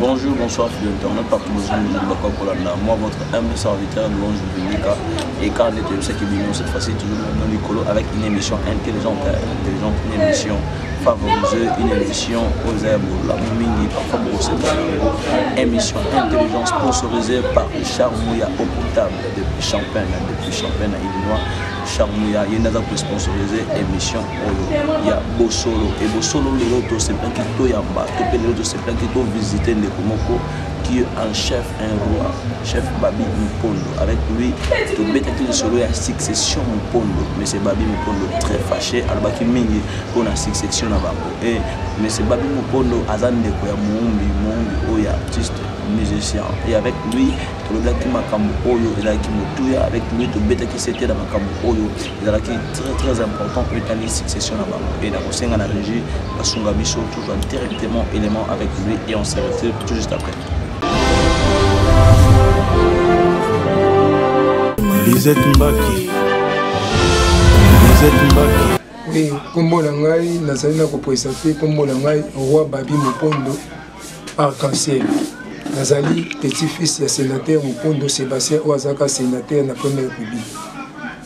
Bonjour, bonsoir fille internet partout bozwi mozali bakoki kolanda moi votre humble serviteur louange bibelika et car nde toyebisaki bino cette fois-ci toujours na likolo avec une émission intelligente intelligente une émission favoriseux une émission oyo eza ya bolamu mingi parfois bokoseka yango émission intelligence sponsorisée par richard mouya au potable depuis champagne depuis champagne na illinois richard mouya ye nde aza kosponsoriser émission oyo ya bosolo e bosolo lelo tosepelaki toyamba to mpe lelo tosepelaki tovisite ndeko moko qui est un chef un roi chef babi mopondo avec lui tobetaki lisolo ya succession mopondo monsieur babi mopondo très fâché alobaki mingi mpo na succession na bango e monsieur babi mopondo aza ndeko ya moumbi moumbi oyo ya artiste musicien et avec lui tolobelaki makambo oyo ezalaki motuya avec lui tobetaki sete na makambo oyo ezalaki très très important oyo etali succession na bango mpe nakosenga na régie basunga biso tozwa directement élément avec lui et on se retire tout juste après lisette mbaki lisette mbaki oui nkombo na ngai nazali na kopoisa te nkombo na ngai roi babi mopondo arc-en-ciel nazali petit fils ya sénateur mopondo sébastien oyo azalaka sénateur na première république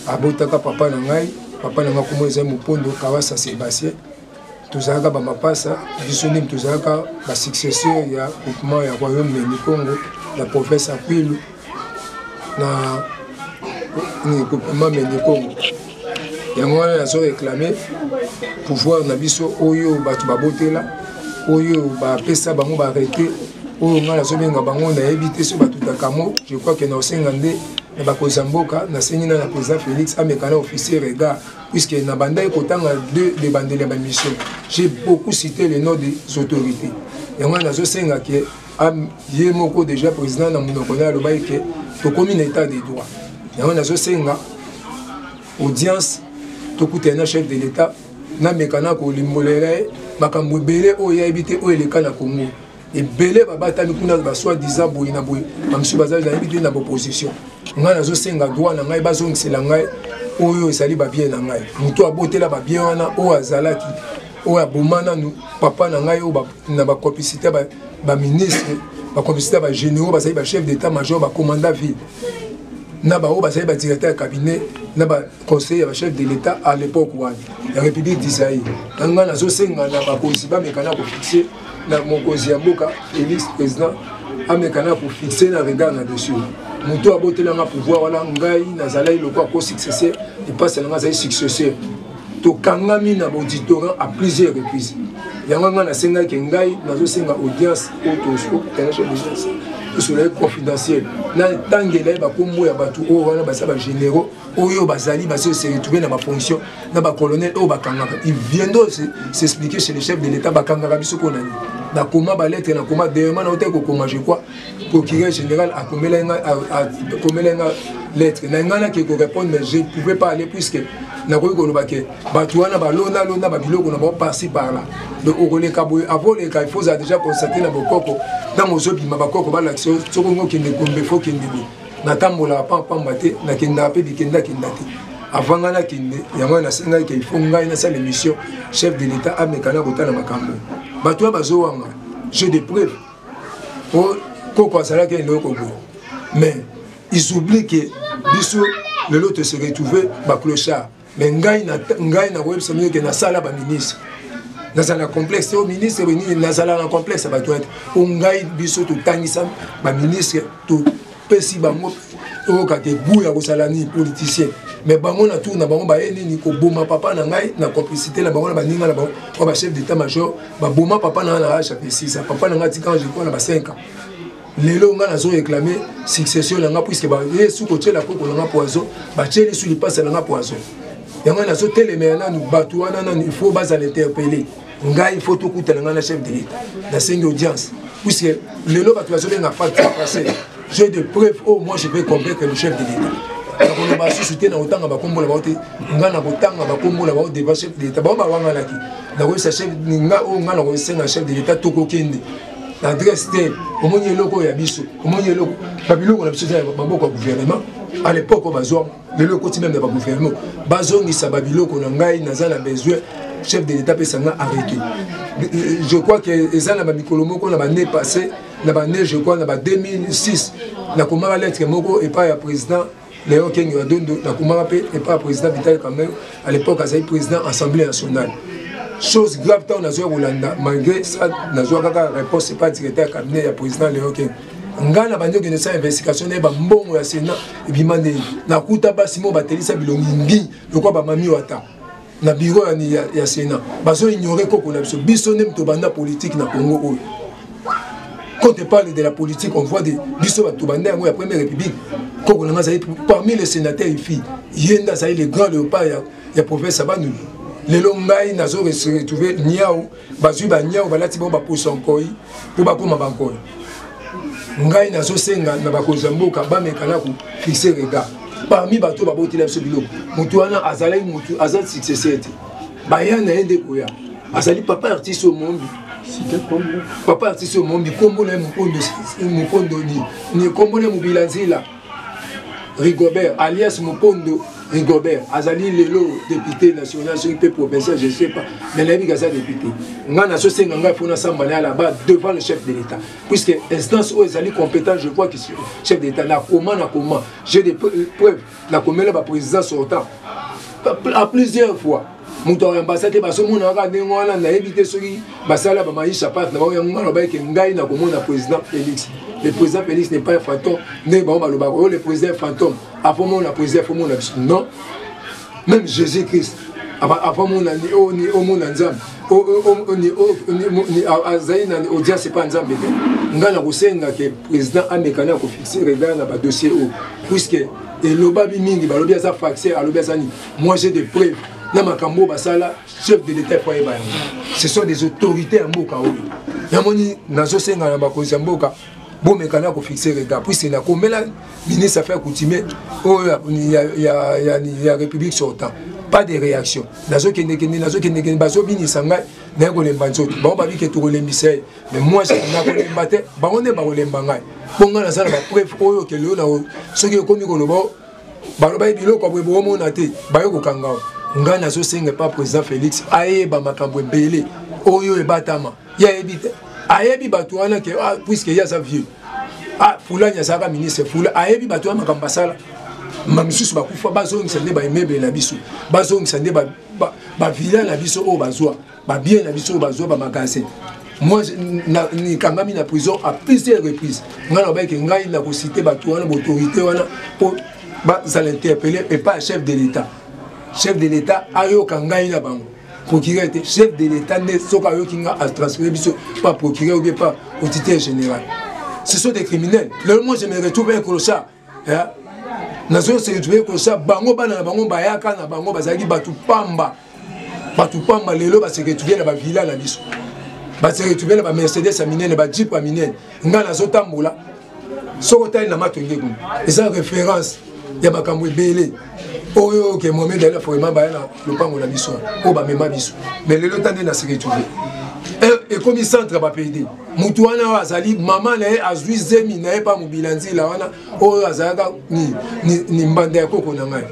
abotaka papa na ngai papa na ngai kombo ezali mopondo kawasa sébastien tozalaka bamapasa biso nini tozalaka basuccesseur ya groupement ya royaume meni congo ya province ya kwilu na groupement mendikongo yango wana nazo réclame pouvoir na biso oyo bato babotela oyo bapesa bango barete oyo ngai nazobenga bango nayebi te so batutaka mo je crois ke naosenga nde na bakonzi ya mboka nasengi na na président félix amekana officier regard puisque na bandaki kotanga deux de bandeli ya bamission j'ai beaucoup cité le nom des autorités yango wana nazosenga ke ye moko déjà président na monoko naye alobaki ke tokomi na état de droit yango nazosenga audience tokutana na chef de l'état nameka na kolimbolela ye makambo ebele oyo yayebi te oyo eleka na congo ebele babatami kuna basoi disant boye na boye bamosusu bazali nayebi te na baopposition ngai nazosenga droit na ngai bazongisela ngai oyo ezali babie na ngai moto abotela babie wana oyo azalaki oyo aboma nanu papa na ngai oyo na ba complicité ba ba ministre ba complicité ba généraux bazali ba chef d'état major ba commandant ville na baoyo bazali ba directeur ya cabinet na ba conseiller ya ba chef de l'état à l'époque wana ya république d'israël na ngai nazosenga na bakonzi bamekana kofixe na mokonzi ya mboka félix président amekana kofixe na regard na dessus moto abotelanga pouvoir wana ngai nazalaki lokola ko successeur epasi na ngai azali successeur tokangami na bauditorat à plusieurs reprises yango ngai nasengaki ngai nazosenga audience oyo tokanaki audience tosolaki confidentiel natangela ye bakombo ya bato oyo wana baza bagénéraux oyo bazali basi se retrouve na bafonction na bacolonel oyo bakangaka il viendra s'expliquer chez le chef de l'état bakangaka biso mpo na nini nakoma balettre nakoma dernièrement naotaki kokoma je crois procureur général akomelaki nga akomelaki nga lettre na ngai nake korépondre mais je ne pouvais pas aller puisque nakoki koloba ke bato wana balona lona babiloko na bango parci par là donc okoleka boye avo oleka il faut ozala déjà constate na bokoko ntango ozobima bakoko balakisa yo soki ongi okende gombe fo okende boye natambolaka pampamba te nakendaka mpe bikendakenda te avant ngai nakende yango wana nasengaki ke il faut ngai nasala émission chef de l'état amekana kotala makambo bato oyo bazowanga jeu de preuve koko azalaki eloko boye mais ils oublient que biso lelo tose retrouve baclochard mais ngai ngai nakoyebisa bino ke nasala baministre nazala na complexe o ministre benini nazala na complexe ya bato ete o ngai biso totangisa baministre pesi bango toyoka te gout ya kosala nini politicien mais bango na tour na bango baye nini koboma papa na ngai na complicité na bango na baninga na bango oyo bachef d'état major baboma papa na ngai na age ya pesisa papa na ngai atikanga jekoa na ba 5 ans lelo ngai nazo réclame succession na ngai puiske baye su kotyela koko na ngai poison batyeli su lipasa na ngai poison yango nazotelemela nanu bato wana nanu il faut bazala interpellé ngai faut tokutana ngai na chef de l'etat nasengi audience puisque lelo bato bazobenga pacte passé j'ai de preuve oyo oh, moi je vais convaincre le chef de l'état nakoloba susu te nakotanga bakombo na bango te ngai nakotanga bakombo na bango devant chef de l'état bango bawanganaki nakoyesa chef nga oyo oh, ngai nakosenga chef de l'état tokokende na adresse te omoni eloko oyo ya biso omoni eloko babiloko na biso eza ya maboko ya gouvernement à l'époque oyo bazwanga lelo ekoti meme na bagouvernement bazongisa babiloko na ngai naza na besoin chef de l'état apesa nga arrete je crois que eza na bamikolo moko na bane passé na bane je crois na ba 2006 nakomaka lettre moko epai ya président léon kenge ya dondo nakomaka mpe epai ya président vital kamere à l'époque azali président assemblée nationale chose grave ntango nazwaki kolanda malgré ça nazwaka kaka réponse epai directeur ya cabinet ya président léon kenge ngai na bandi okende sala investigation na ye bambongo ya sena ebima ndenge nakuta basi moko batelisa bilongi ngi lokola bamami wata na biro ya, ya sena bazoignore koko na biso biso nde tobanda politike na congo oyo quand on parle de la politique on voit de biso bato banda yango ya première république koko na ngai azali parmi les sénateurs ifi ye nde azali le grand léopard ya, ya province ya bandundu lelo ngai nazo retrouve niau bazwi banyau balati bango bapusa nkoi mpo bakoma bankoi ngai nazosenga na bakonzi ya mboka bameka na kofixe rega parmi bato babotela biso biloko motu wana azalaki motu aza successeur te baya na ye nde koya azali papa artiste oyo mombi papa artiste oyo mombi nkombo na ye mokondo ni nkombo na ye mobila nzela Rigobert alias Mukondo Rigobert azali lelo député national soki mpe provincial je ne sais pas mais nayebi kaza député ngai nazosenga ngai mpo nasamba na ya là-bas devant le chef de l'état puisque instance oyo ezali compétent je vois que chef de l'état nakoma nakoma j'ai des preuves nakomela baprésident sortant à plusieurs fois moto ya ambasa te bazomonaka kaka ndenge wana nayebi te soki basala bamaisha pate na bango yango ngai nalobaki ke ngai nakomona président félix le président félix n'est pas un fantôme ndenge bango balobaka oyo oh, le président fantôme afomona président afomona biso non même jésus christ afomona omona oh, nzambe oh, azali na audience epa nzambe te ngai nakosenga ke président amekani akofixe regard na badossier oyo puisque elobami mingi balobi aza faxe alobi aza nini moi j'ai des preuves na makambo oyo basala chef de l'état epo ayeba yango ce sont des autorités ya mboka oyo namoni nazosenga na bakonzi ya mboka bomeka na kofixe regard puisque nakomela ministre affaire coutumier oyo ya, ya, ya, ya république sortant pas de réaction nazokendekende nazokendekende bazobinisa ngai naye kolemba nzoto bango babike tokolembisa ye mais moi nakolemba te bango nde bakolemba ngai mpo ngai naza na bapreuve oyo kelelo na soki ekomi koloba balobaki biloko ya boye bokomona te baye kokanga ngai nazosenga epa président félix ayeba makambo ebele oyo ebatama ye ayebi te ayebi bato wana ke ah, puiske ye aza vieux ah, fulani azalaka ministre fula ayebi bato wana makambo basala ma misusu bakufa bazongisa nde baemebele na biso bazongisa nde bavila na biso oyo bazwa ba bien na biso bazwa ba magasin moi nikangami na prison à plusieurs reprises ngai nalobaki ke ngai nakosite bato wana baautorité wana mpo bazala interpellé epai ya chef de l'état chef de l'état ayoka ngai na bango procureur te chef de l'état nde soki ayoki nga atransfere biso par procureur ou bien par auditeur général ce sont des criminels lelo moi je me retrouve un clochard eh? nazo se retrouver kosa bango bana na bango bayaka na bango bazalaki bato pamba bato pamba lelo ba se retrouver na ba villa na biso ba se retrouver na ba mercedes ya minene ba jeep ya minene ngai nazotambola soki otali na mato nde kuna eza référence ya makambo ebele oyo oke mohamed ali aforema baya na lopango na biso oyo bamema biso mais lelo ta nde na se retrouver ekomi centre ya bapede motu wana oyo azali mama na ye azwi zemi na ye mpa mobila nzila wana oyo azalaka ni, ni, ni mbanda ya koko na ngai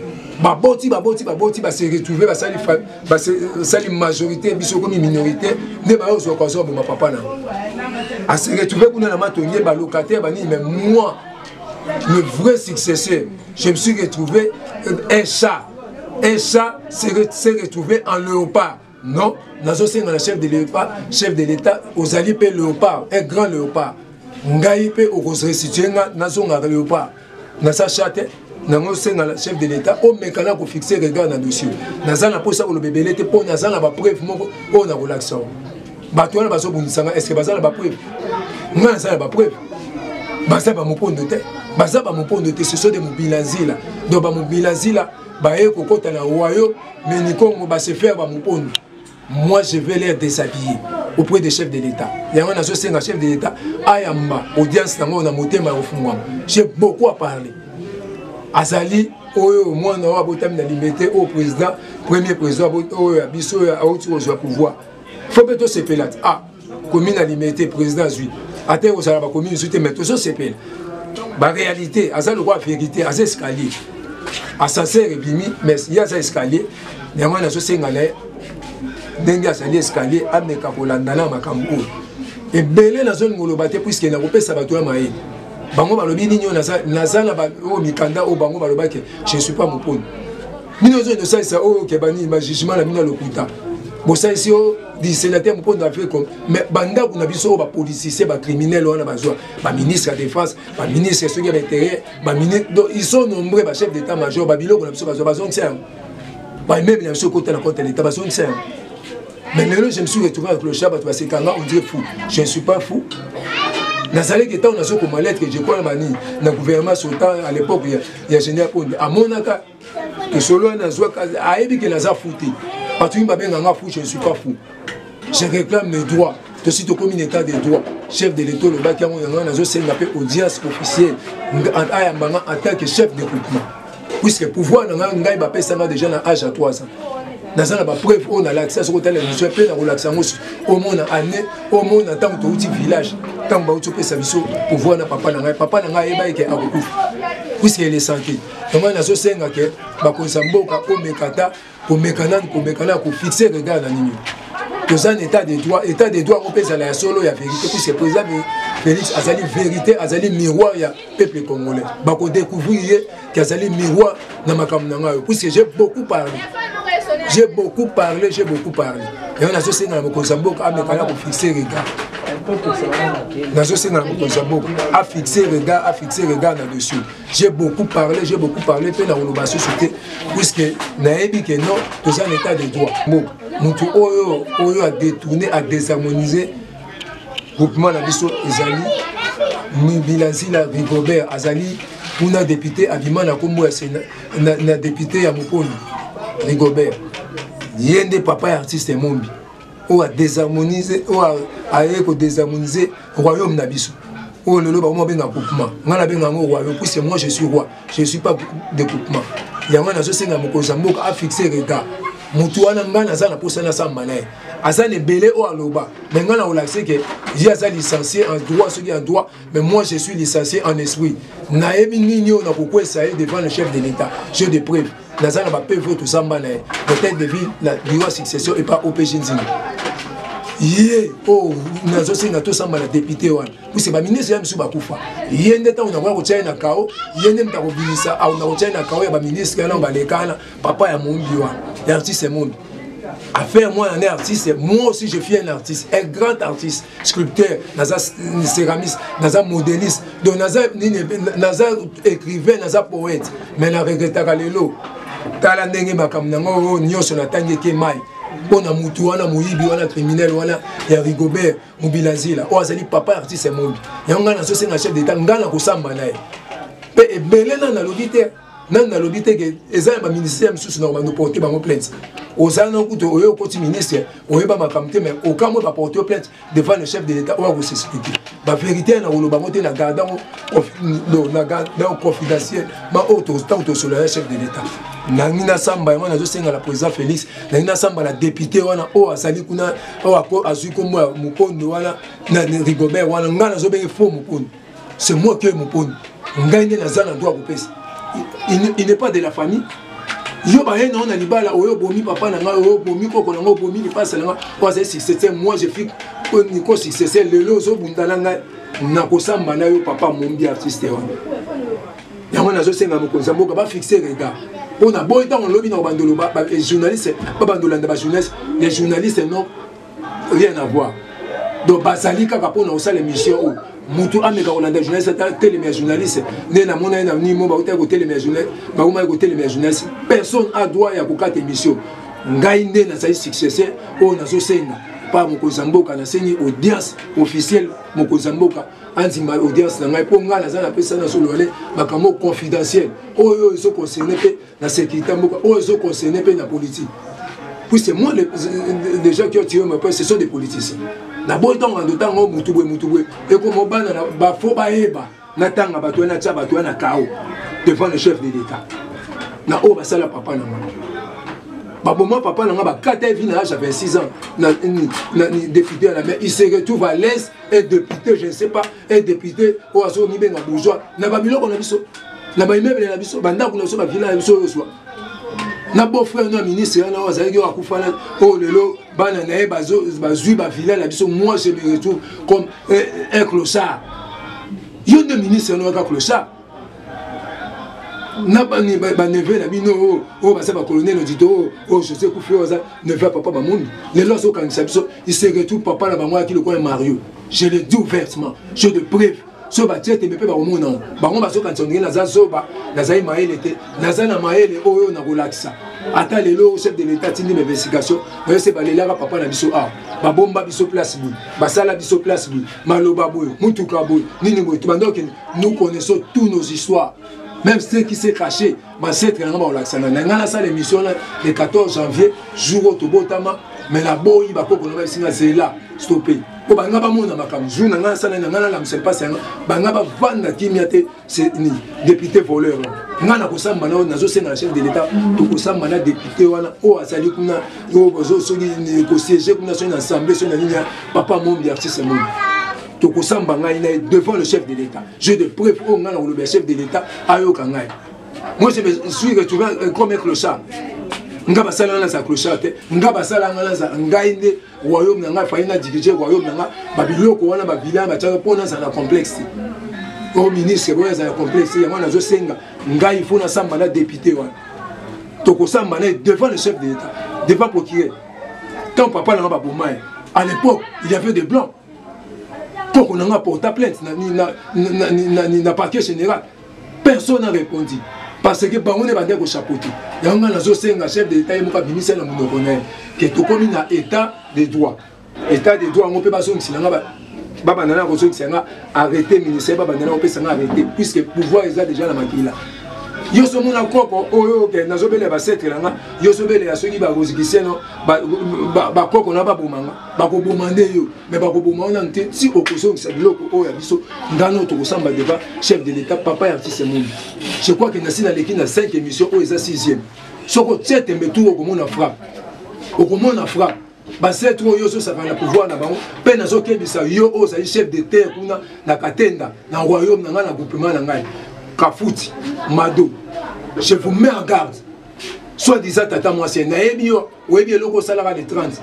baboti baboti baboti base retrouve basali majorité biso ekomi minorité nde bayozwaka azwa boma papa na ase retrouve kuna na matonge balocataire banini mais moi le vrai successeur je me suis retrouvé euh, un chat un chat s'est retrouvé en léopard Non, nazosenga na chef de l'État, chef de l'État, ozali mpe léopard, un grand léopard. Ngai mpe okorestitue nga nazongaka léopard. Nasa chate, nango osenga na chef de l'État, omeka na kofixe regard na dossier. Naza na mposa koloba ebele te mpo naza na bapreuve moko oyo nakolakisa yango. Bato wana bazobundisa nga, est-ce que baza na bapreuve? Nga naza na bapreuve. Baza ba mopondo te, baza ba mopondo te, ce sont des mobilanzila. Donc ba mobilanzila baye kokota na royaume mais nikongo ba se faire ba mupondo moi je vais les déshabiller auprès des chefs de l'état yango nazosenga chef de l'état ayamba audience nango na motema ya kofungwama j'ai beaucoup à parler azali oyo mwana oyo abotami na limete oyo président premier président oyo ya biso oyo auti kozwa pouvoir fo mpe tosepela te ah komi na limete président azwi ata ekozala bakomi misu te mai tozosepela baréalité aza lokola vérité aza escalier ascenseur ebimi mais ye aza escalier yango wana azosenga na ye ndenge azali escalier ameka kolandana ya makambo oyo ebele nazolinga oloba te puiske nakopesa bato ya mayele bango balobi nini oyo naza na baoyo mikanda oyo bango balobaki je suis pas moponi bino ozo edosalisa oyo kebani ba jugement na bino ya lokuta bosalisi yo disenateur mokondo afrique mais bandako na biso oyo bapolitisien bacriminel wana bazwa baministre ya défense baministre soki ya baintérieur donc ils sont nombreux bachef d'état major babiloko na biso bazwa bazongisa yango bameuble na biso ekota na compte ya leta bazongisa yango mais lelo je me suis retrouvé avec le chat bato basekanga on dirait fou je ne suis pas fou nazalaki ntango nazokoma lettre je crois na banini na gouvernement sultan à l'époque ya général konde amonaka tosololi nazwaka ayebi ke naza fou te bato mingi babenga nga fou je ne suis pas fou je réclame mes droits tosi tokomi na état de droit chef de l'état olobaki yango yango wana nazosenga mpe audience officielle ayamba nga en tant que chef de groupement puisque pouvoir na ngai ngai bapesa nga déjà na age ya 3 ans naza na bapreuve oyo nalakisa soki otala émission mpe nakolakisa yango omona année omona ntango touti village ntango bauti opesa biso pouvoir na papa na ngai papa na ngai ayebaki ke akokufa puisque elesante yango wana nazosenga ke bakonisa mboka komeka ata komeka nani komeka nani kofixe regard na nini toza na état de droit état de droit yango mpe ezala ya solo ya vérité puisque président félix azali vérité azali miroir ya peuple congolais bakodecouvrir ye ke azali miroir na makambo na ngai oyo puisque j'ai beaucoup parlé j'ai beaucoup parlé j'ai beaucoup parlé yango nazosenga na mokonzi ya mboka ameka na kofixe regard nazosenga na mokonzi ya mboka afixe regard afixe regard na dessus j'ai beaucoup parlé j'ai beaucoup parlé mpe nakoloba susu te puiske nayebi ke non toza na état de droit bo motu oyo oyo adetourne adesharmonise groupement na biso ezali mibilanzila rigobert azali kuna depute abima na nkombo ya sena na, na depute ya mokoni rigobert ye nde papa ya artiste mombi oyo adesharmonise oyo aye kodesharmonise royaume na biso oyo lelo bango babenga coupement ngai nabenga yango royaume puisque moi je suis roi je suis pas de coupement yango nazosenga mokonzi ya mboka afixe regard motu wana ngai naza na mposa nasamba na ye aza na ebele oyo aloba me ngai nakolakise ke ye aza licencie en droit soki en droit mais moi je suis licencie en esprit nayebi nini oyo nakokwesa ye devant le chef de l'état je de preuve naza na bapeve oyo tozamba na ye peut-être depuis na bureau ya succession epa opg nzinga ye oyo oh, nazosenga tosamba na depute wana puse baministre ya misu bakufa ye nde ntango nakoya kotya ye na kao ye nde moto akobimisa auna kotya ye na kao ya baministre wana balekana papa ya moumbi wana ya artiste moumbi affaire moi en artiste moi aussi je suis un artiste un grand artiste scripteur naza céramiste naza modéliste donc naza nini naza écrivain naza poète mais na regrettaka lelo tala ndenge makambo nango oyo nyonso natangi eke mai mpo na motu wana moyibi wana criminel wana ya rigobert mobilazila oyo azali papa artiste ya mombi yango ngai nazosenga chef d'état ngai nakosamba na ye mpe ebele nani nalobi te nani nalobi te ke eza ya baministère mosusu na kobanda oporte bango plainte ozala na kutu oyo okoti ministre oyeba makambo te mais okamwe baporte yo plainte devant le chef de l'état oyo akosesilite baverité na koloba yango te na garde yango na garde yango confidentiel ma oyo ntango tosolola ya chef de l'état nangi nasamba yango nazosenga na président félix nangi nasamba na député wana oyo azali kuna oyo azwi nkombo ya mokondo wana na rigobert wana ngai nazobenge fo mokondo c'est moi qui ai moponi ngai nde naza na droit kopesa il n'est pas de la famille yo baye na yo na libala oyo obomi papa na ngai oyo obomi koko na ngai obomi lipasa na ngai oyo azali successeur moi je fik niko successeur lelo ozobunda na ngai nakosamba na yo papa mombi artiste wana yango nazosenga mokonzi ya mboka bafixe regard mpo na boyi ntango lobi na kobandolo journaliste babandolanda bajournaliste les journalistes non rien à voir donc bazali kaka mpona kosala émission oyo mutu ameka kolanda journaliste atelema ya journaliste nde namona ye na nimo bautaki kotelema ya journaliste bakomaki kotelema ya journaliste personne a droit ya kokata émission ngai nde nazali successeur oyo nazosenga pa mokonzi ya mboka nasengi audience officielle mokonzi ya mboka andima audience na ngai mpo ngai naza napesa na solole makambo confidentiel oyo ezoconcerne mpe na sécurité ya mboka oyo ezo concerne mpe na politique puis c'est moi les, les gens qui ont tiré ma prince ce sont des politiciens naboyi ntango na ndotanga o mutu boye mutu boye ekoma bana bafo bayeba natanga bato wana natya bato wana kao devant le chef de l'état na oyo basala papa na ngai baboma papa na ngai bakata evi na age ya 26 ans na, na, na député ya la mer il se retrouve à l'aise et député je ne sais pas e depute oyo azo mibenga bourgeois na ba biloko na biso na ba immeuble na biso ba ndako na biso ba villa na biso yoswa na beau frère no ministre wana azalaki oyo akufa na oyo lelo bana na ye bazwi ba villa na biso moi je me retrouve comme un clochard yo nde ministre no aka clochard na baneve na bino oyo oh, oh, baza bacolonel odito oyo oh, josé kufi oyo aza neve ya papa bamondo lelo azo okangisa biso iseretu papa na bango ayaki lokola mario je le dis ouvertement je de preuve soki batie tembe mpe bakomona yango bango bazokanisa ondenge naza zoba nazali mayele te naza na mayele oyo nakolakisa ata lelo chef de l'état atindi bainvestigation bayo se balelaka papa na biso awa ah, babomba biso place boye basala biso place boye maloba boye motuka boye nini boye tobanda okende nous connaissons tous nos histoires même ceux qui s'est caché bancetre nanga bakolakisana na ngai nasala émission na le 14 janvier jour oyo tobotama mais naboyi bakoko na ngai esinga zela stope mpo banga bamona makambo jour na ngai nasala na ngai nalamusa mpasi yanga banga bavanda kimia te ni député voleur ngai nakosamba na oyo nazosenga na chef de l'état tokosamba na député wana oyo azali kuna oyo soki kosiege kuna soki na assemblée soki na nini ya papa mombi artiste mombi tokosamba ngai na devant le chef de l'état je de preuve oyo ngai nakoloba ya chef de l'état ayoka ngai moi je me suis retrouvé euh, comme un clochard nga basala nga naza clochard te nga basala nga naza ngai nde royaume na ngai fai na dirige royaume na ngai babiloko wana babila batiaka mpo naza na complexe te o ministre oyo aza na complexe yango nazosenga ngai ifo nasamba na député wana tokosamba na ye devant le chef de l'état devant procureur tant papa na nga baboma ye à l'époque il y avait des blancs toko na nga porta plainte na, na, na, na, na, na parquet général personne a répondu parce que bango nde bandaki kochapote yango ngai nazosenga chef de l'état ye moko abimisa na monoko na ye ke tokomi na état de droit état de droit yango mpe bazongisela nga babanda na kozongisa nga arrete ministère babanda na kopesa nga arrete puisque pouvoir eza déjà na makila yo so mona koko oyo oke nazobele basetre na nga yo sobelela soki bakozikiseno bakoko na baboma nga bakoboma nde yo me bakoboma wana te si okozongisa biloko oyo ya biso ngana oyo tokosamba deba chef de l'état papa ya artiste mondi je crois ke nasi naleki na 5 émission oyo eza 6ième soki otie tembe tour okomona frappe okomona frappe basetre oyo ozosaka na pouvoir na bango mpe nazokebisa yo oyo ozali chef de terre kuna na katenda na royaume na ngai na groupement na ngai kafuti mado je vous mets en garde soit disant tata mwasi nayebi yo oyebi eloko osalaka le 30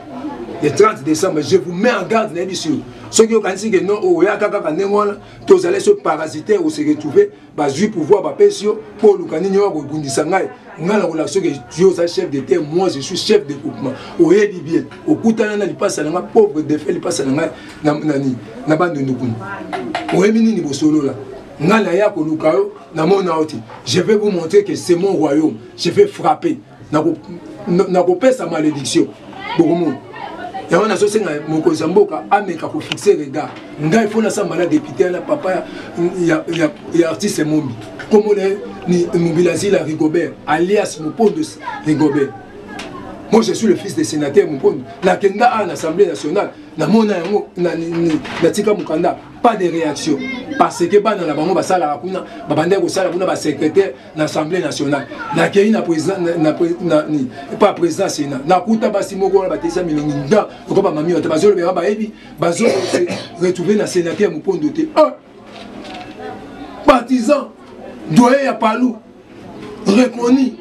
le 30 décembre je vous mets en garde nayebi sur soki okanisi ke non oyaka kaka ndenge wana tozali so parasitaire ose retrouve bazwi pouvoir bapesi yo mpo oluka nini oyo akobundisa ngai ngai nakolaka soki yo oza chef de terre moi je suis chef de groupement oyebi bien okutana na lipasa na ngai pauvre defe lipasa na ngai nani na bandundu kuna oyebi nini bosolola ngai naya koluka yo namona yo te je vais vous montrer que c'est mon royaume je vais frapper nakopesa malédiction bokomona yango nazosenga mokonzi ya mboka ameka kofixe regard ngai mpo nasamba na depute na papa ya, ya, ya, ya artiste mombi nkombo na ye ni mobilazila rigobert alias mopondos rigobert moi je suis le fils de sénateur mopondo nakenda awa na assemblée nationale namona yango natika mokanda pas de réaction parce que bana na bango basalaka kuna babandaki kosala kuna basecrétaire na assemblée nationale nakei na pa président ya sénat nakuta basi moko wana batesa milongi nda lokola bamami bata bazolobela bayebi bazo retrouve na sénateur mopondo te un partisan doye ya palu reconnu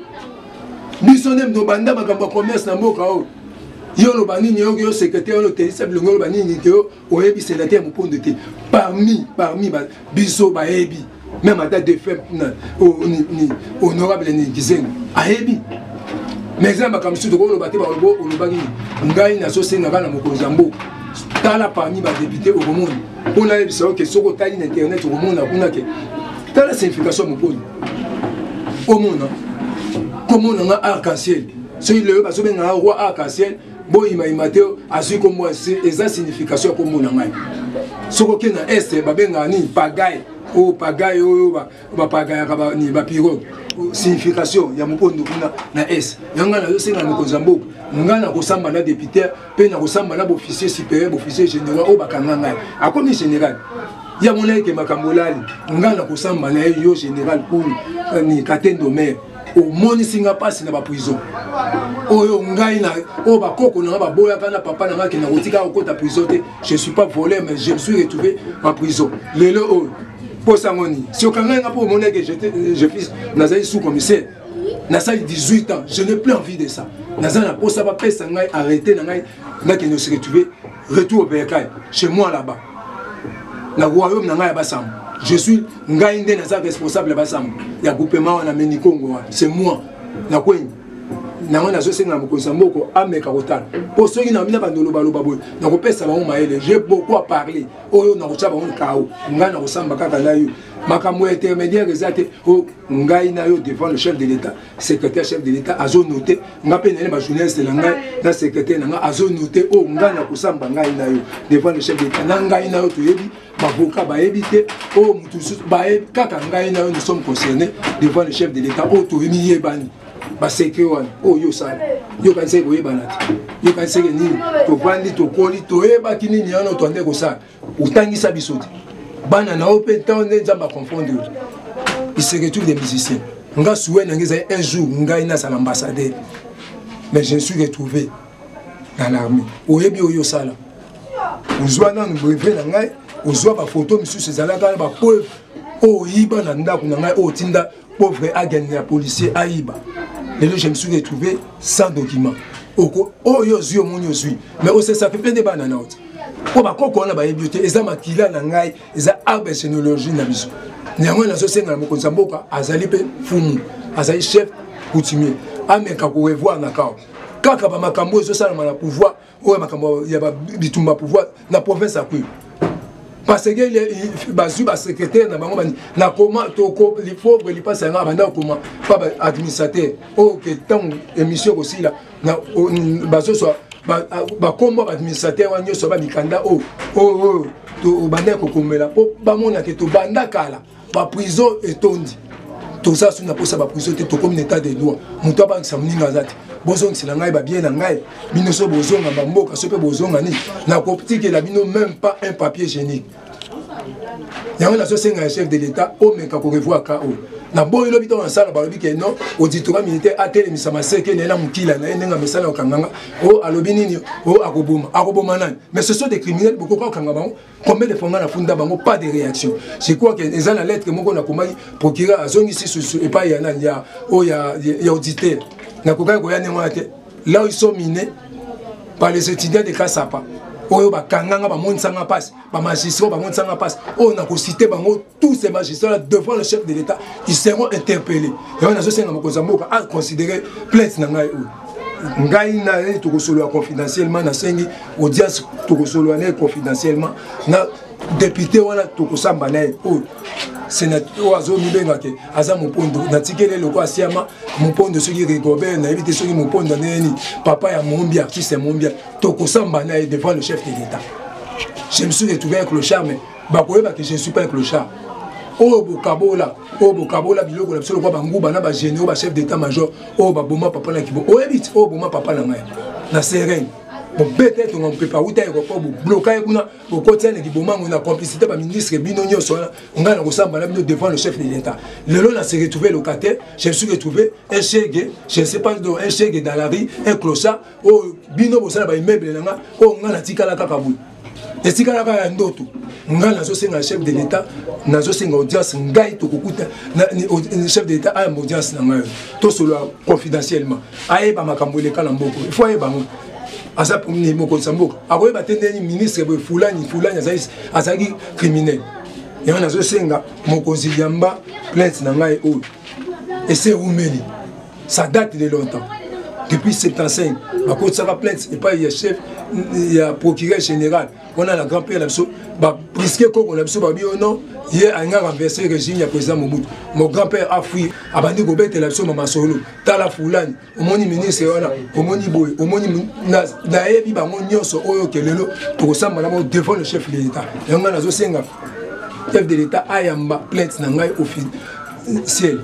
biso nde tobanda makambo ya commerce na mboka oyo yo oloba nini oyoki yo secrétaire olotelisa bilongi oloba nini te yo oyebi senateur mopondo te parmi parmi biso bayebi même ata defunt honorable ni kizengo ayebi mais eza na makambo mosusu tokoloba te olobaki ngai nazosenga kaka na mokonzi ya mboka tala parmi badepute okomona mpo nayebisa yo ke soki otali na internet okomona kuna ke tala signification ya moponi omona komona nga arc-en-ciel soki lelo bazobenga nga roi arc-en-ciel boyimayima te azwi nkombo eza signification ya nkombo na ngai soki oke na este babengaka nini pagaye oyo oh, pagaye oyo oh, oh, bapagayaka bapiroge signification ya mokondo kuna na est yango ngai nazosenga na mokonzi ya mboka ngai nakosamba na deputer mpe nakosamba na boofficier supérieur boofficier général oyo bakanga ngai akomi général ya mona ete makambo olali ngai nakosamba na ye yo général kulu eh, ni katendo mare omonisi nga mpasi na baprison oyo ngai na oyo bakoko na nga baboyaka na papa na nga kenda kotika kokota prison te je suis pas voleur mais je me suis retrouvé en prison lelo oyo mposa yango nini si okangai nga mpo omoni eke je fils nazali sous commissaire nasali 18 ans je n'ai plus envie de ça naza na mposa bapesa ngai arrete na ngai nakende se retrouve retour au bercail chez moi là-bas na royaume na ngai ya basambo je suis ngai nde naza responsable ya basambo ya groupement wana me nikongo wana c'est moi na kweni nango nazosenga na mokonzi ya moko ameka kotala mpo soki na mina bandolobaloba boye nakopesa bango mayele je beaucoup a parler oyo nakotya bango kao ngai nakosamba kaka na yo makambo ya intermédiaire eza te o oh, ngai na yo devant le chef de l'état secrétaire chef de l'état azo note nga mpe naye bajournaliste na ngai na secrétaire na ngai azo note oyo oh, ngai na kosamba ngai na yo devant le chef de l'état na ngai na yo toyebi bavoka bayebi te oyo oh, motu mosusu bayebi kaka ngai na yo nous sommes concernés devant le chef de l'état oyo oh, toyemiyebani baseke wana oyo yo osala yo okanisaki koyebana te yo okanisaki nini tovandi tokoli toyebaki nini yana otwande kosala otangisa biso te bana na yo mpe ntango nde nzambe aconfondre yo il se retrouve des musiciens nga souhait na ngai ezali un jour ngai nazala ambassadeur mais je suis retrouvé na l'armée oyebi oyo osala ozwa nanu brevet na ngai ozwa bafoto mosusu ezalaka na bapreuve oyo oyiba na ndako na ngai oyo otinda pauvre agent ya policier ayiba lelo je me suis retrouvé sans document oko oyo ozwi omoni ozwi mais osesa pepe nde bana na oti mpo bakoko wana bayebi yo te eza makila na ngai eza arbre généalogie na biso na yango nazosenga na mokonzi ya mboka azali mpe fumu azali chef coutumier ameka korevoir na kao kaka bamakambo oyo ezosalama na pouvoir oyo makambo ya bitumba pouvoir na province ya kwilu parce que bazwi basecrétaire na bango na koma toko lipauvre lipasi yanga banda kokoma pa baadministrateur oyo oh, ke ntango émission ekosila bazoswa bakombo ya baadministrateur wana nyonso ba mikanda oyo oh, oyo oh, tobandaki kokomela mpo bamonake tobanda kala ba prison etondi toza soki na posa ba prison te tokomi na état de droit moto abangisa moninga aza te bozongisela ngai babie na ngai bino so bozonga bamboka so mpe bozonga nini nakotikela bino même pas un papier génique yango nazosenga ya chef de l'état omeka korevoir ka oyo na boyi lobi ntango nasala balobi ke non auditora militaire atelemisa maseke naye na mokila na ye ndenge amesala kokanganga o oh, alobi nini o oh, akoboma akoboma nani mais ce sont des criminels bokoka kokanga bango combien de fois nga nafunda bango pas de réaction je crois que eza na lettre moko nakomaki procureur azongisi susu epai ya nani ya oyo ya, ya auditeur nakokaki koya ndenge wana te là ils sont minés par les étudiants de kasapa oyo bakanganga bamonisanga mpasi bamagistrat bamonisanga mpasi oyo nakosite bango tous ces magistrats là devant le chef de l'état ils seront interpellés yango nazosenga mokonzi ya mboka aconsidere plainte na ngai oyo ngai na ye tokosolola confidentiellement nasengi audience tokosolola na ye confidentiellement na depute wana tokosamba na ye oyo sénateur oyo azomibenga te aza mopondo natikeli eloko asiama mopondo soki rigobert nayebi te soki mopondo ndenge nini papa ya mombi artiste ya mombi tokosamba na ye devant le chef de l'état je me suis retrouvé avec le charme bakoyeba ke je suis pas un clochard oyo bokabola oyo bokabola biloko na biso lokola banguba na bagénéraux bachef d'état major oyo baboma papa na kibo oyebi ti oyo boma papa na ngai na serene bobeta ye tonga mopepe awuta aéroport bobloka ye kuna bokotia na kibomango na complicité baministre bino nyonso wana ngai nakosamba na bino devant le chef de l'état lelo na se retrouve locataire je me suis retrouvé un chegue je ne sais pas un chegue dans la rue un clochard oyo bino bosala ba immeuble na nga oyo nga natikala kaka boye etikala kaka ya ndoto nga nazosenga chef de l'état nazosenga audience ngai tokokuta chef de l'état ayamba audience na ngai tosolola confidentiellement ayeba makambo eleka na mboko il faut ayeba yango aza mokonzi ya mboka akoyeba te ndeni ministre boye fulani fulani azalaki criminel yango nazosenga mokonzi yamba plainte na ngai oyo ese eumeli ça date de longtemps depuis 75 bakotisaka plainte epai ya chef ya procureur général wana na grand père na biso bapriske koko na biso babi ono ye alinga renverse régime ya président mobutu mon grand père afui abandi kobetela biso mamasolo tala fulani omoni ministre wana omoni boye omoni nayebi bango nyonso oyo ke lelo tokosamba na bango devant le chef de l'état yango ngai nazosenga chef de l'état ayamba plainte na ngai officiel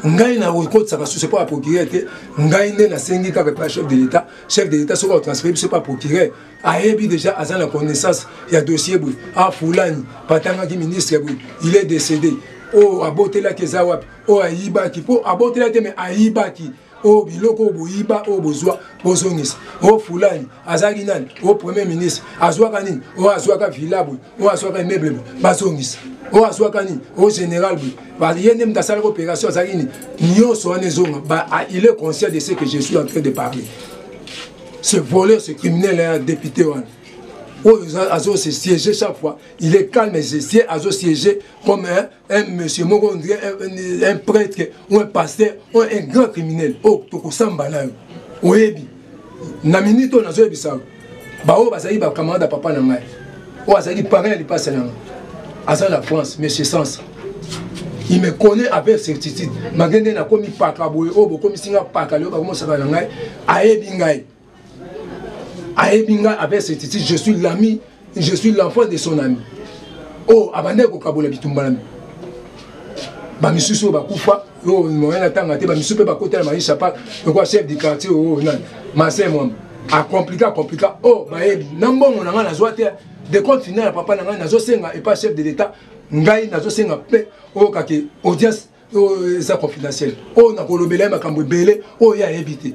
ngai nakokotisaka susu epa ya procureur te ngai nde nasengi kaka epa chef de l'état chef de l'état soki atransfere biso epa procureur ayebi déjà aza na connaissance ya dossier boye afulani ah, patangaki ministre boye il est décédé oyo oh, abotelaki eza wapi oyo ayibaki mpo abotelaki te me ayibaki oyo oh, biloko oyo boyiba oyo oh, bozwa bozongisa oyo oh, fulani azalaki nani oyo premier ministre azwaka nini oyo azwaka villa boye oyo azwaka immeuble boye bazongisa oyo azwaka nini oyo général boye ye nde moto asalaki opération azalaki nini nyonso wana ezonga ah, il est conscient de ce que je suis en train de parler ce voleur ce criminel un député wana oyo azo se siéger chaque fois il est calme se siège azo siéger comme un un monsieur moko un prêtre ou un pasteur ou un grand criminel oyo oh, tokosamba nayo oyebi na minute oyo nazoyebisa baoyo bazali bacamarade ya papa na ngai oyo azalaki parent ya lipasa na ngai aza na france monsieur sansa il me connaît avec certitude malgré nde nakomi paka boye oyo oh, bokomisi ngai paka lelo bakomosaka na ngai ayebi ngai ayebi ngai avec certitude je suis l'ami je suis l'enfant de son ami oyo oh, abandaki kokabola bitumba na bamisusu oyo bakufa oyo oh, moyen atanga te bamisusu mpe bakotala maisha pa lokola chef du quartier oyo oh, nani marcel mwamba acomplika acomplika oyo bayebi na mbongo na ngai nazwa te de compte final ya papa na ngai nazosenga epa chef de l'état ngai nazosenga mpe oyokaki audience oyo eza confidentiel oyo nakolobela ye makambo ebele oyo ye ayebi te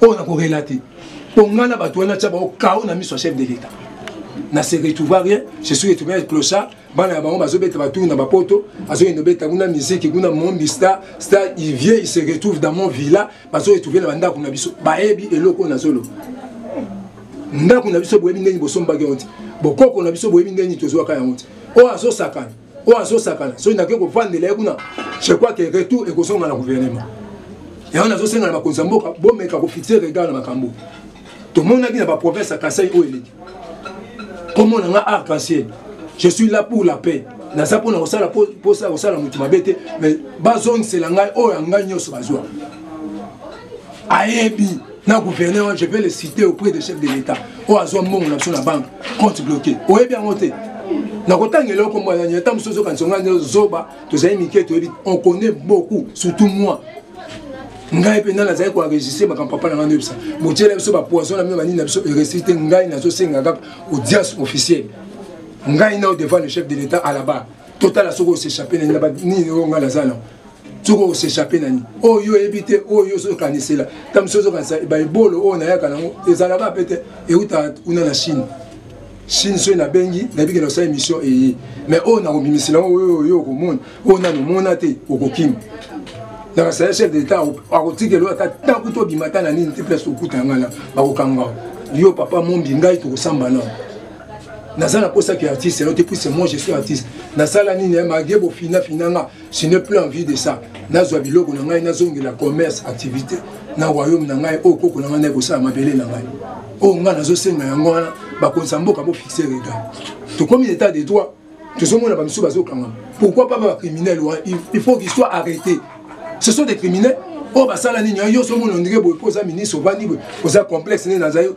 oyo nakorela te mpo ngai na bato wana tya bango kao na miso ya chef de l'état na se retrouva rien je suis retrouvé avec clochard bana ya bango bazobeta baturu na bapoto azoyenda obeta kuna miziki kuna mombi star star il vient il se retrouve dans mon villa bazo retrouve na bandako na biso bayebi eloko oyo nazoloba ndako na biso boyebi ndenge bosombaki yango te bokoko na biso boyebi ndenge tozwaka yango te oyo azosakana oyo azosakana soki nakoki kovandela ye kuna je crois que retour ekozonga na gouvernement yango nazosenga na bakonzi ya mboka bomeka kofixe regard na makambo tomonaki na baprovince ya kasai oyo eleki komona nga arc en ciel je suis là pour la paix naza mpona kosala mposa ya kosala moto mabe te mais bazongisela ngai oyo ya ngai nyonso bazwa ayebi na gouverneur wana je vais le citer auprès de chef de l'état oyo azwa mbongo na biso na banque compte bloqué oyebi yango te nakotanga eloko mwana nini ata mosusu ozokanisa ngai nde zoba tozali mike toyebi on connaît beaucoup surtout moi ngai mpenza nazali koenregistre makambo papa na ngai noyebisa botyela biso bapoison na bino banini na biso eresi te ngai nazosenga kaka audience officielle ngai nao devant le chef de l'état à la barre totala soki osechappe na nini oyo ngai naza nao soki okosechape na nini oyo oh, yo oyebi te oyo oh, yo soki okanisela ta mosusu ozokanisa baebolo oyo oh, nayaka nango ezalaka mpe te eutaka kuna na chine chine soki nabengi nabiki na osala émission eye mais oyo nakobimisela yango oyo yo okomona oyo nano omona te okokima nakasala chef de l'état akotikela ata ntango to obima ata na nini te place okuta ngai na bakokanga yo papa mombi ngai tokosamba nao naza na mposa ke artiste yango te puise moi je suis artiste nasala nini eh, mage bofinafina nga je n'ai plus envie de ça nazwa biloko na ngai nazongela commerce activité na royaume na ngai oyo koko na ngai naye kosala mabele na ngai oyo ngai nazosenga yango wana bakonisa mboka bofixe regard tokomi état de droit tozomona bamisusu bazokanga pourquoi pas bacriminel wana il faut qu'il soit arrêté ce sont des criminels oyo basala nini yo nyonso omona ondenge boye mpo oza ministre ovandi boye oza complexe nde naza yo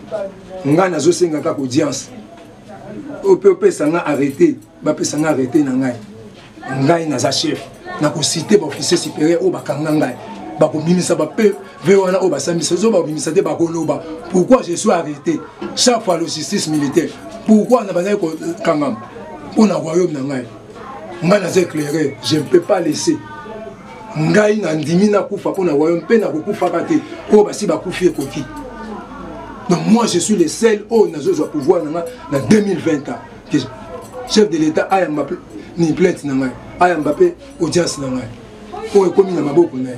nga nazosenga kaka audience oyo mpe opesa nga arrete bapesa nga arrete na ngai ngai naza chef nakosite baofficier supérieur oyo bakanga ngai bakobimisa bape ve wana oyo basambisa zo bakobimisa te bakoloba pourquoi je suis arrêté chaque fois logistique militaire pourquoi na bazali kokangama mpo na royaume na ngai ngai naza éclairé je ne peux pas laisser ngai nandimi nakufa mpo na royaume mpe nakokufaka te oyo basi bakufi ekoki donc moi je suis le seul oyo nazozwa pouvoir na ngai na 2020 ans que chef de l'état ayamba mpe ni plainte na ngai ayamba mpe audience na ngai oyo ekomi na maboko na ye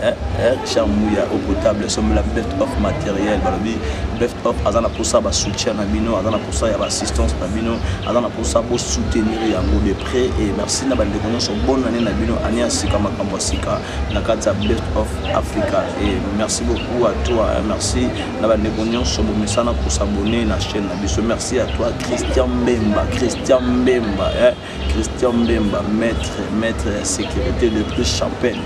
Eh, eh, Richard Mouya au potable sombela best of matériel balobi best of aza na posa ba soutien na bino aza na posa ya ba assistance na bino aza na posa bo soutenir yango de près et merci na bandeko nyonso bonne année na bino année ya sika makambo ya sika na kati ya best of africa et merci beaucoup à toi eh, merci na bandeko nyonso bomesana kosabone na chaîne na biso merci à toi christian mbemba christian mbemba eh. Christian Mbemba, maître, maître ya sécurité, le plus champagne,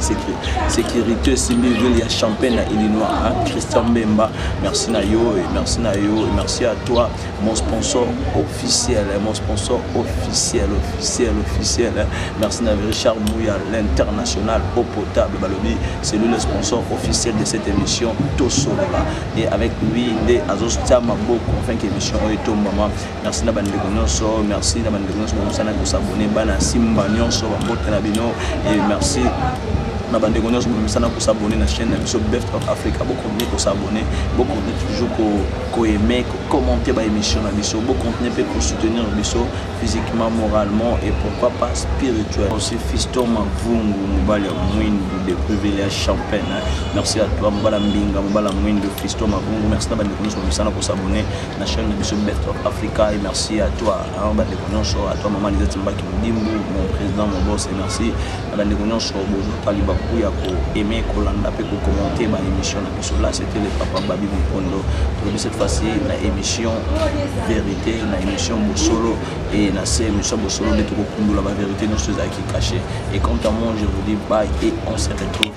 sécurité, Simbi Ville, ya champagne à Illinois, hein? Christian Mbemba, merci na yo, et merci na yo, et merci à toi, mon sponsor officiel, hein? mon sponsor officiel, officiel, officiel, hein? merci na Richard Mouya, l'international eau potable, Balobi, c'est lui le sponsor officiel de cette émission, Tosolaba, et avec lui, il est Azos Tiamaboko, enfin, émission, et maman, merci na bandeko nyonso merci na bandeko nyonso bamosana kosabone bana simba nyonso bambote na bino e merci na bandeko nyonso bomesana kosabone na chaîne na biso beft of africa bokontinue kosabone bokontinue toujours koaime kocommente baémission na biso bokontinue mpe kosoutenir biso physiquement moralement et pourquoi pas spirituel aussi fiston mavungu mobali ya mwindu depuis ville ya champagne merci à toi mobala mbinga mobala mwindu fiston mavungu merci na bandeko nyonso bomesana kosabone na chaîne de biso best of africa et merci à toi hein, bandeko nyonso à toi maman lisette mbaki modimbu mon président mon boss et merci na bandeko nyonso bozwaka libaku ya koaime kolanda mpe kokommente ba émission na biso là c'était le papa babi mokondo tolobi cette fois-ci na émission vérité na émission bosolo et na se émission bosolo nde tokokundola ba vérité nyonso ezalaki caché et quant à moi je vous dis bye et on se retrouve